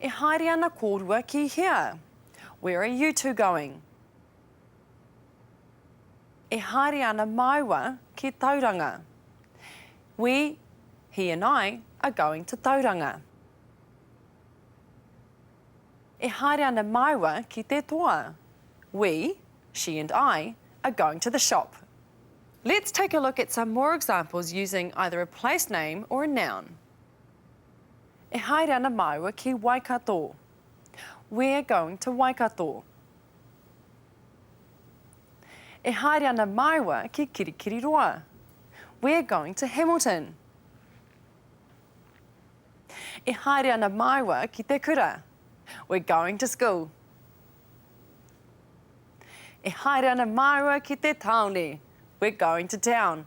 E haere ana kōrua ki hea? Where are you two going? E haere ana māua ki Tauranga. We, he and I, are going to Tauranga. E haere ana māua ki te toa. We, she and I, are going to the shop. Let's take a look at some more examples using either a place name or a noun. E haere ana māua ki Waikato. We're going to Waikato. E haere ana māua ki Kirikiriroa. We're going to Hamilton. E haere ana māua ki te kura. We're going to school. E haere ana māua ki te tāone. We're going to town.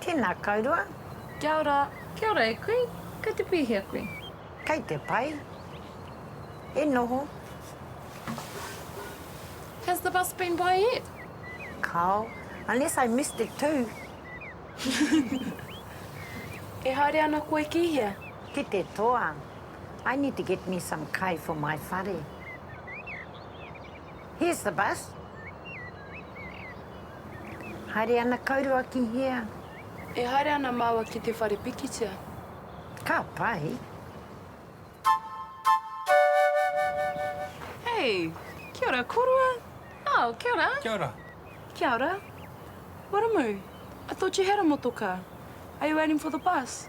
Tēnā kaurua. Kia ora. Kia ora e kui. Kei te pihia kui? Kei te pai. E noho. Has the bus been by yet? Kao. Unless I missed it too. E haere ana koe ki hea? Ki te toa. I need to get me some kai for my whare. Here's the bus. Haere ana kaurua ki hea? E haere ana māua ki te whare pikitia. Ka pai. Hey, kia ora korua. Oh, kia ora. Kia ora. Kia ora. Waramu, I thought you had a motoka. Are you waiting for the bus?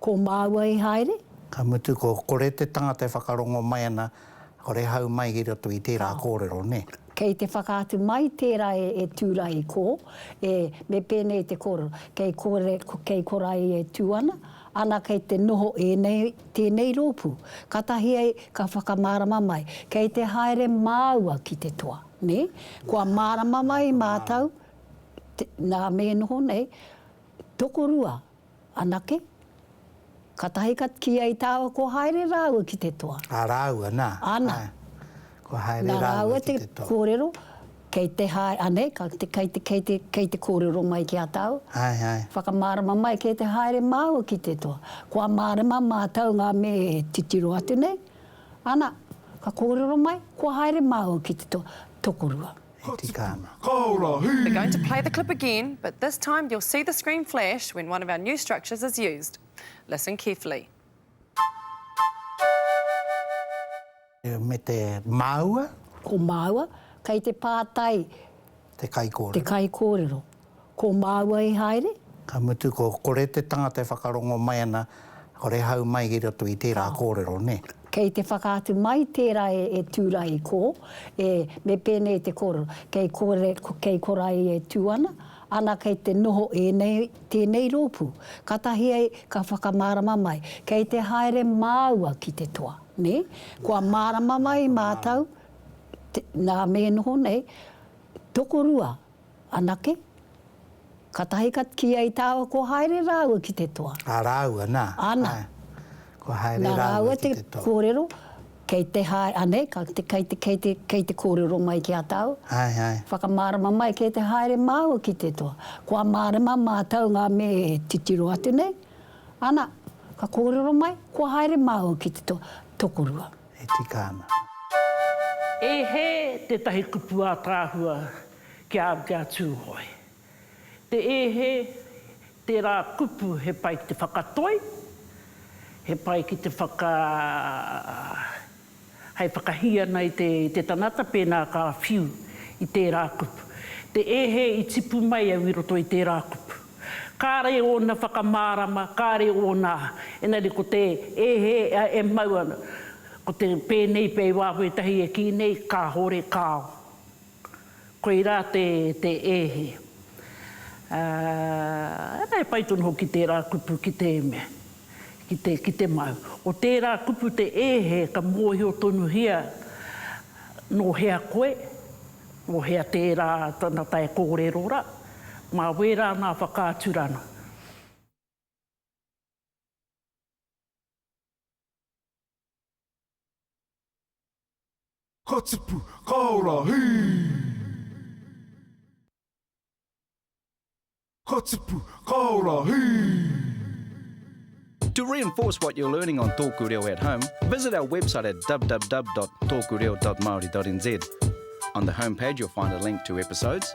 Ko māua i haere? Ka mutu ko kore te tangata e whakarongo mai ana, kore e hau mai i roto i tērā kōrero, nē? Kei te whakaatu mai tērā e Tūrae, ko, e, me pēnei te kōrero, kei kore, kei korae e tū ana, ana kei te noho ēnei, tēnei rōpū. Katahi ai ka whakamārama mai, kei te haere māua ki te toa, nē? Kua mārama mai mātou, nā me noho nei, tokorua. Anake. Katahi ka kīia i tāua kua haere rāua ki te toa. A rāua, nā. Ana. Kua haere rāua ki te toa. Nā rāua te kōrero, kei te hae, anei, ka, kei te, kei te, kei te kōrero mai ki a tāua. Ai, ai. Whakamārama mai kei te haere māua ki te toa. Kua mārama mātou ngā me titiro atu nei. Ana, ka kōrero mai, kua haere māua ki te toa. Tokorua. he tika ana. We're going to play the clip again, but this time you'll see the screen flash when one of our new structures is used. Listen carefully. Me te māua. Ko māua, kei te pātai. Te kaikōrero. Te kaikōrero. Ko māua i haere? Ka mutu ko kore te tangata e whakarongo mai ana, kore hau mai ki roto i tērā kōrero, nē? Kei te whakaatu mai tērā e Tūrahi, ko, e, me pēnei te kōrero, kei kore, kei korai e tū ana, ana kei te noho ēnei, tēnei rōpū. Katahi ai ka whakamārama mai, kei te haere māua ki te toa, nē? Kua mārama mai mātou, te, nā me noho nei, tokorua, Anake. Katahi ka kīia i tāua kua haere rāua ki te toa. A rāua, nā. Ana. Kua haere rāua ki te toa. Nā rāua te kōrero, kei te hae, anei, ka, kei te, kei te, kei te kōrero mai ki a tāua. Ai, ai. Whakamārama mai kei te haere māua ki te toa. Kua mārama mātou ngā me titiro atu nei. Ana, ka kōrero mai, kua haere māua ki te toa. Tokorua. E tika ana. E hē tētahi kupu ātaahua Kia, kia Tūhoe. Te ehe, tērā kupu he pai ki te whakatoi, he pai ki te whaka, hei whakahī ana i te, i te tangata pēnā ka whiu i tērā kupu. Te ehe i tipu mai au i roto i tērā kupu. Kāre ōna whakamārama, kāre ōna, engari ko te ehe e mau ana, ko te pēnei pea i waho ētahi e kī nei, kāore, kāo. Koirā te ēhi. Ā, e pai tonu hoki tērā kupu ki te eme, ki te mau. Ko tērā kupu te ēhe ka mōhio tonuhia nō hea koe, nō hea tērā tana tae kōrero rā, mā wērā ngā whakaaturanga. Ka tipu, ka ora, hī! Ka tipu, ka ora, hī! To reinforce what you're learning on Tōku Reo at home, visit our website at www.tokureo.maori.nz. On the home page you'll find a link to episodes,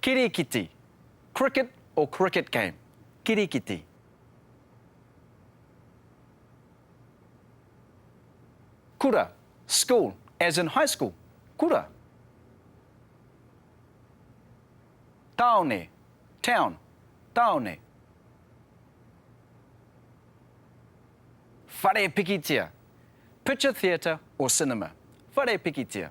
Kirikiti, cricket or cricket game, kirikiti. Kura, school, as in high school, kura. Taone, town, taone. Whare pikitia, picture theatre or cinema, whare pikitia.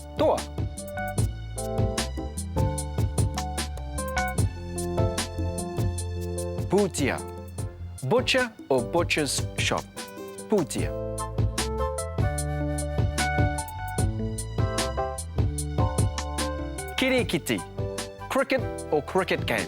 Toa! Pūtia, butcher or butcher's shop. Pūtia. Kirikiti, cricket or cricket game.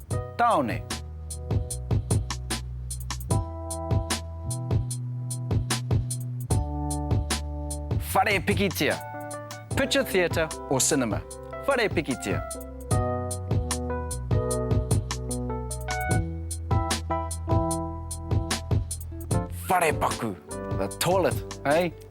Taone. Whare pikitia, picture theatre or cinema. Whare pikitia. Wharepaku, the toilet, hei?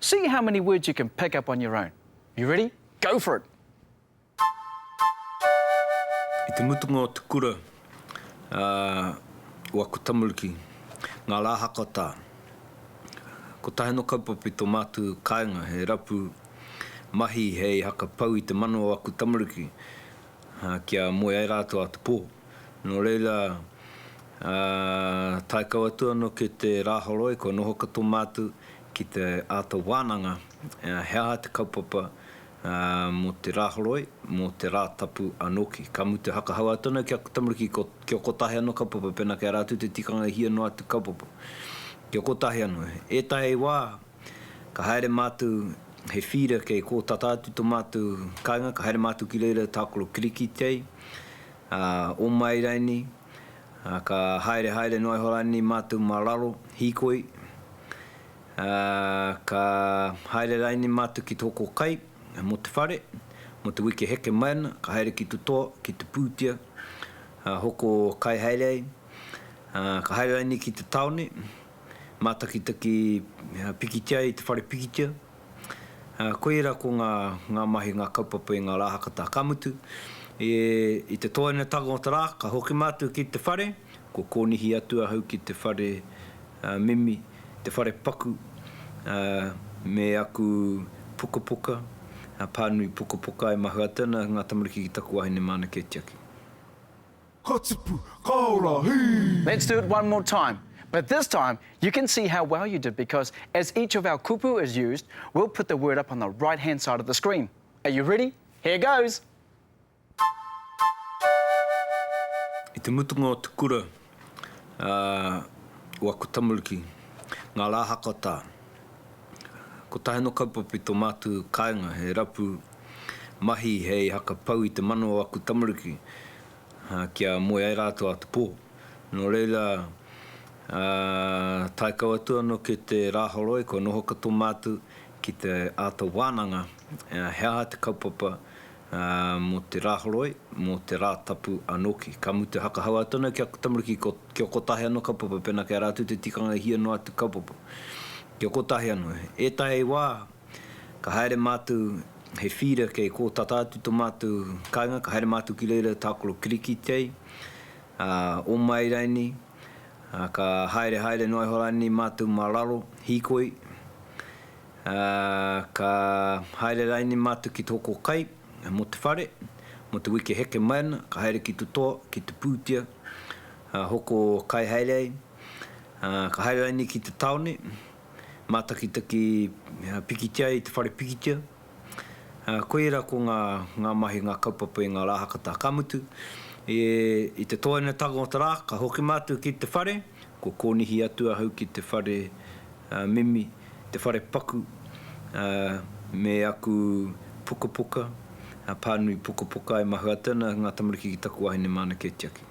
See how many words you can pick up on your own. You ready? Go for it! I te mutunga o te kura a Waku Tamaruki, ngā rā hakatā, ko Taheno Kaupape tō mātu kāinga, he rapu mahi hei haka pau i te mano o Waku Tamaruki kia moe ai rātou a te pō. Nō reira, tae kau atu anō ki te Rāhoroi, kua noho ka tō mātu Ki te āta wānanga, he aha te kaupapa mō te Rāhoroi, mō te Rātapu anōki? Ka mutu hakahau atu anō ki a Tamariki kia kotahi anō kaupapa, pēnā kei a rātou te tikanga e hia noa atu kaupapa. Kia kotahi anō. Ētahi wā, ka haere mātou he feeder kei kō tata atu tō mātou kāinga, ka haere mātou ki reira tākaro kirikitei, ō māiraini, Ā, ka haere haere noa iho rānei mātou mā raro, hīkoi, ā, ka haere rānei mātou ki te hoko kai mō te whare, mō te wiki e heke mai ana, ka haere ki te toa, ki te pūtea, ā, hoko kai haere ai, ā, ka haere rānei ki te tāone, mātakitaki pikitia ai te whare pikitia. Koira ko ngā ngā mahi, ngā kaupapa i ngā Rāhakata. Ka mutu, e, i te tōainatanga o te rā, ka hoki mātou ki te whare, kua kōnihi atu ahau ki te whare, ā, mimi, te whare paku, ā, me aku pukapuka, ā, pānui pukapuka e mahue atu ana ngā tamariki ki taku wāhine māna kē tiaki. Ka tipu, ka ora, hī! Let's do it one more time but this time you can see how well you did because as each of our kupu is used we'll put the word up on the right hand side of the screen. Are you ready? Here goes! I te mutunga o te kura a Waku Tamariki, ngā rā hakata, kotahi anō kaupapa i tō mātou kāinga, he rapu mahi hei haka pau i te mano o aku tamariki kia moe ai rātou ā te pō. Nō reira, tae kau atu anō ki te Rāhoroi kua noho katoa mātou ki te āta wānanga he aha te kaupapa mō te Rāhoroi, mō te Rātapu anō hoki. Ka mutu, hakahau atu anō ki aku tamariki kia kotahi anō kaupapa pēnā kei a rātou te tikanga e hia noa atu kaupapa. Kia kotahi anō. Ētahi wā, Ka haere mātou he whīra kei kō tata atu to mātou kainga, ka haere mātou ki reira i tākaro Kirikitei, a Omai rainei, a ka haere haere noa iho rānei mātou mā raro, hīkoi, a ka haere rainei mātou ki te hoko kai mō te whare, mō te wiki heke mai ana, ka haere ki to toa, ki te pūtia, a hoko kai haere ai, a ka haere rainei ki te taone, Mātakitaki pikitia i te whare pikitia. Koira ko ngā ngā mahi, ngā kaupapa i ngā Rāhakatā. Ka mutu, i te tōainatanga o te rā, ka hoki mātou ki te whare, kua kōnihi atu ahau ki te whare mimi, te whare paku me aku pukapuka, pānui pukapuka e mahue atu ana ngā tamariki ki taku wahine māna kē tiaki.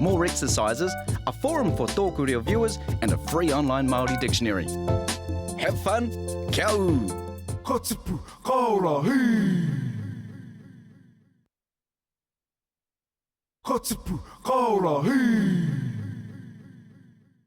More exercises, a forum for Tōku Reo viewers and a free online Māori dictionary. Have fun! Kia ū! Ka tipu, ka ora, hī! Ka tipu, ka ora, hī!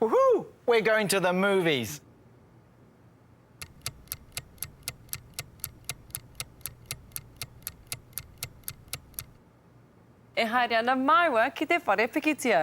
Woohoo! We're going to the movies! E haere ana māua ki te whare pikitia.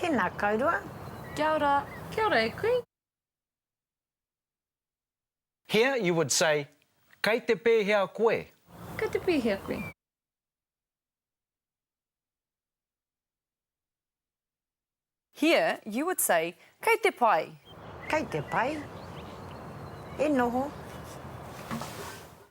Tēnā kourua. Kia ora. Kia ora e kui. Here you would say, Kei te pēhea koe? Kei te pēhea koe? Here you would say, Kei te pai? Kei te pai. E noho.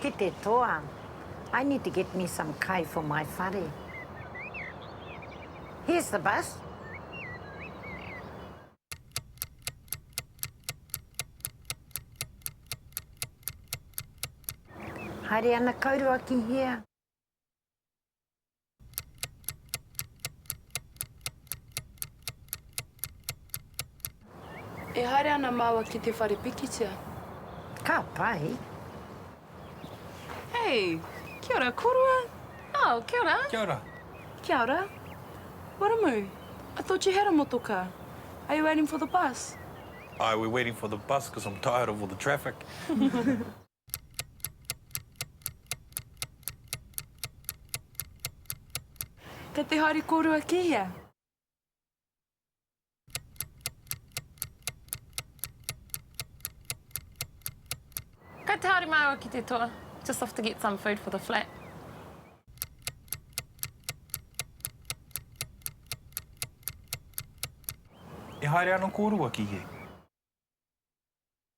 Ki te toa. I need to get me some kai for my whare. Here's the bus. Haere ana kaurua ki hea. E haere ana māua ki te whare pikitia? Ka pai. Hei! Kia ora, korua! Oh, kia ora! Kia ora! Kia ora! Waramu, I thought you had a motoka. Are you waiting for the bus? Aye, we're waiting for the bus because I'm tired of all the traffic. Kei te haere kōrua ki hea? Kei te haere māua ki te toa? Just off to get some food for the flat. E haere ana kōrua ki hea?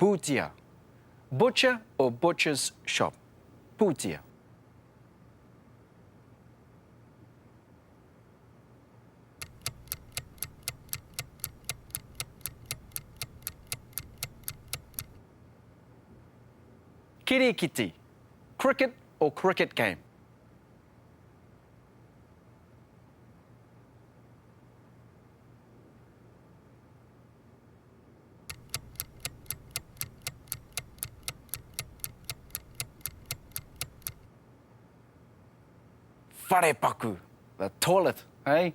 Pūtia, butcher or butcher's shop. Pūtia. Kirikiti, cricket or cricket game. Wharepaku, the toilet, hei?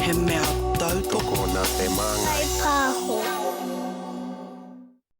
He mea tautoko nā te māngai. Hei pāho.